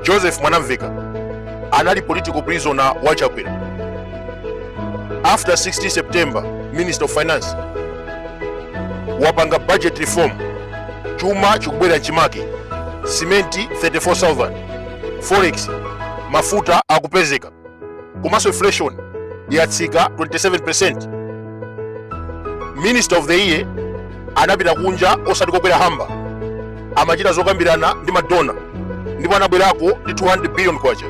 joseph mwanamveka anali political prisoner wa chakwera after 16 september minister of finance wapanga budget reform chuma chikubwerera m'chimake simenti 34000 forex mafuta akupezeka komanso inflation yatsika 27% minister of the year anapita kunja osati kokwera hamba amachita zokambirana ndi madona ndipo anabwerako ndi 200 billion kwacha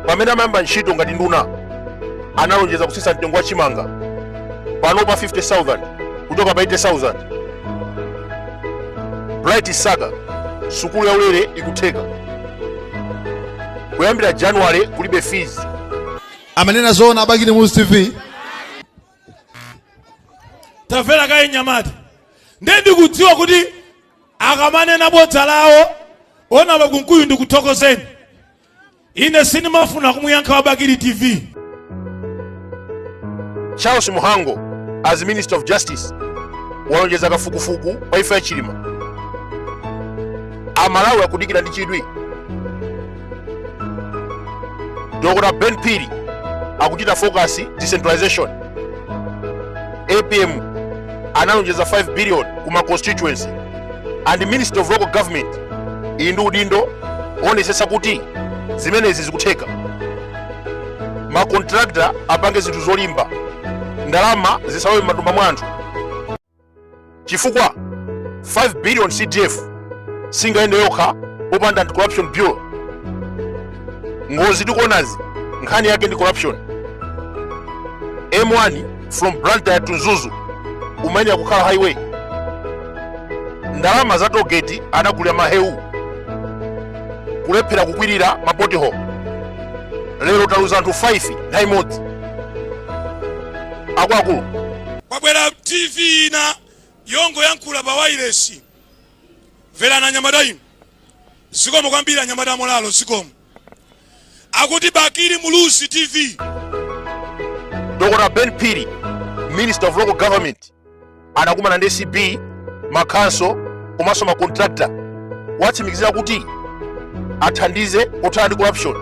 pamene amayamba ntchito ngati nduna analonjeza kutsitsa mtengo wa chimanga pano pa 50000 kuchoka pa 80000 bright msaka sukulu yaulere ikutheka kuyambira january kulibe fees amanena zoona abakili muluzi tv tamvera kaye nyamata ndiye ndikudziwa kuti akamanena bodza lawo ona a kunkuyu ndikuthokozeni ine sindimafuna kumuyankha wabakili tv Charles Mhango as Minister of Justice walonjeza kafukufuku wa imfa ya Chilima. Amalawi akudikira ndi chidwi. Dr. Ben Phiri akuchita focus decentralization. APM analonjeza 5 billion kuma constituency and Ministry of Local Government ili ndi udindo oonetsetsa kuti zimenezi zikutheka. makontrakta apange zinthu zolimba ndalama zisalowe m'matumba mwa anthu chifukwa 5 billion cdf singayende yokha popanda anti corruption bureau ngozi tikuonazi nkhani yake ndi corruption m1 from blantyre to mzuzu umayenera kukhala highway ndalama za togeti anagulira mahewu kulephera kukwirira mapothole lero taluza anthu 5 nthawi imodzi akuluakulu kwabwera tv ina yongoyankhula pa wailesi mverani anyamata inu zikomo kwambiri anyamata amolalo zikomo akuti bakili muluzi tv dr ben phiri minister of local government anakumana ndi acb makhansolo komanso makontrakta kuwatsimikizira kuti athandize pothana ndi corruption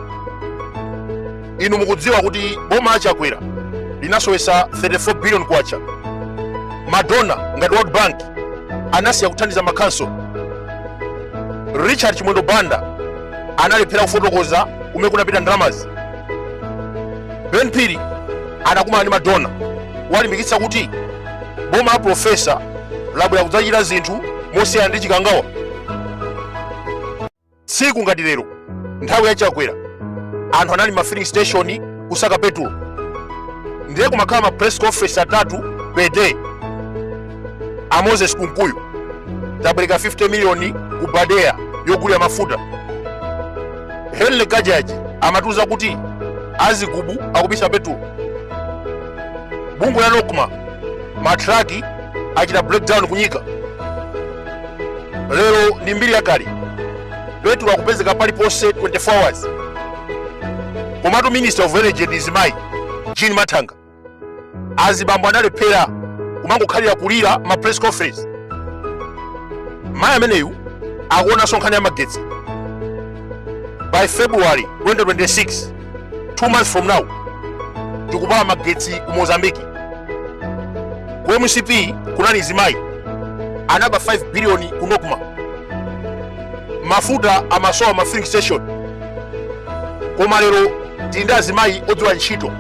inu mukudziwa kuti boma la chakwera linasowesa 34 billion kwacha madona ngati world bank anasiya kuthandiza makhansolo richard chimwendo banda analephera kufotokoza kumene kunapita ndalamazi ben phiri anakumana ndi madona walimbikitsa kuti boma la profesa labwera kudzachita zinthu mosiyana ndi chikangawa tsiku ngati lero nthawi ya chakwera anthu anali ma filling station kukasaka petulo ndiye kumakhala ma press conference atatu per day a moses kunkuyu tapereka 50 miliyoni ku badea yogulira mafuta henry kachaje amatiuza kuti a zigubu akubisa petulo bungwe la nocma matraki achita breakdown ku nyika lero ndi mbiri yakale petulo akupezeka paliponse 24 hours komatu minister of energy ndi mzimayi jean mathanga azibambo analephera kumangokhalira kulira ma press conference mayi ameneyu akuonanso nkhani ya magetsi by february 2026 two months from now tikupata magetsi ku mozambiki ku mcp kunali mzimayi anaba 5 biliyoni ku nocma mafuta amasowa ma filling station koma lero tili ndi azimayi odziwa ntchito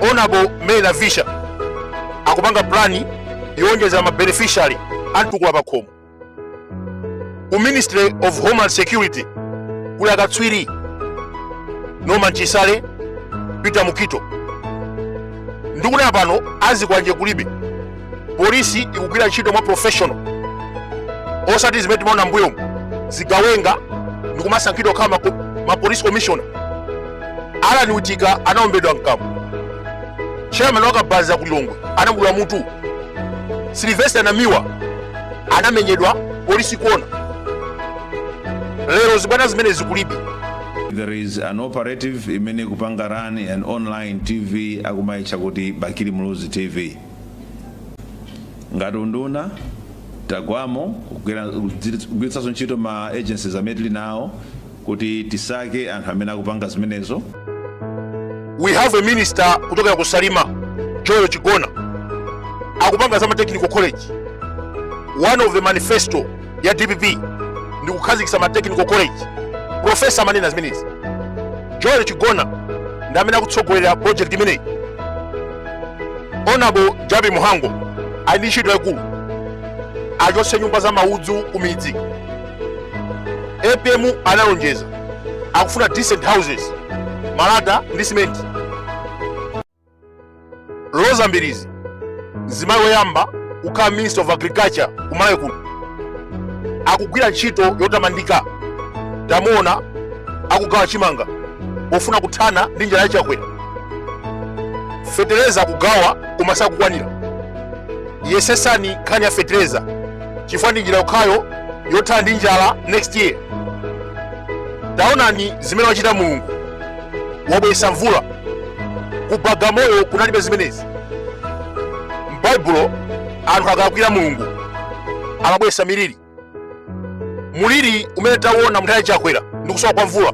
honorable mary navicha akupanga plani yowonjeza mabeneficiary a mtukula pakhomo ku ministry of homeland security kuli akatswiri norman chisale peter mukhito ndikunena pano azikwanje kulibe polisi ikugwira ntchito mwa professional osati zimene timaona mbuyomu zigawenga ndikumasankhidwa kukhala ma- ma police commissioner allan witika anaombedwa mkamwa chairman wa kabaza ku lilongwe anamudula mutu sylvester namiwa anamenyedwa polisi ikuona lero zibwana zimenezi kulibe there is an operative imene ikupanga run an online tv akumaitcha kuti bakili muluzi tv ngati unduna tagwamo kugwiritsa ntchito ma agencies amene tili nawo kuti tisake anthu amene akupanga zimenezo we have a minister kuchokera ku salima joel chigona akupanga za ma technical college one of the manifesto ya dpp ndi kukhazikitsa ma technical college profesa amanena zimenezi joel chigona ndi amene akutsogolera project imeneyi honorable jappie mhango ali ndi ntchito yaikulu achotse nyumba za maudzu ku midzi apm analonjeza akufuna decent houses malata ndi simenti roza mbilizi mzimayi woyamba kukhala minister of agriculture ku malawi kuno akugwira ntchito yotamandika tamuona akugawa chimanga pofuna kuthana ndi njala ya chakwera fetereza akugawa koma sakukwanira yesesani nkhani ya fetereza chifukwa ndi njira yokhayo yothana ndi njala next year taonani zimene wachita mulungu wabweretsa mvula ku bagamoyo kunalibe zimenezi m'baibulo anthu akalakwira mulungu amabweretsa miliri muliri umene tawuwona munthawi ya chakwera ndi kusowa kwa mvula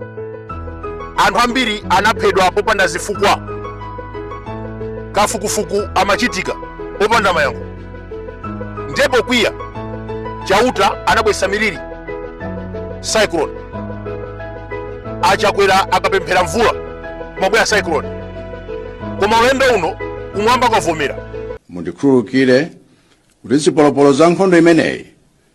anthu ambiri anaphedwa popanda zifukwa kafukufuku amachitika popanda mayankho ndiye pokwiya chauta anabweresa miliri cyclone achakwera akapemphera mvula kumabwera cyclone koma ulendo uno kumwamba kwavomera mundikhululukire kuti zipolopolo za nkhondo imeneyi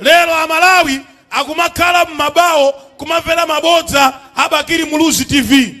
lero amalawi akumakhala m'mabawo kumamvera mabodza a bakili muluzi tv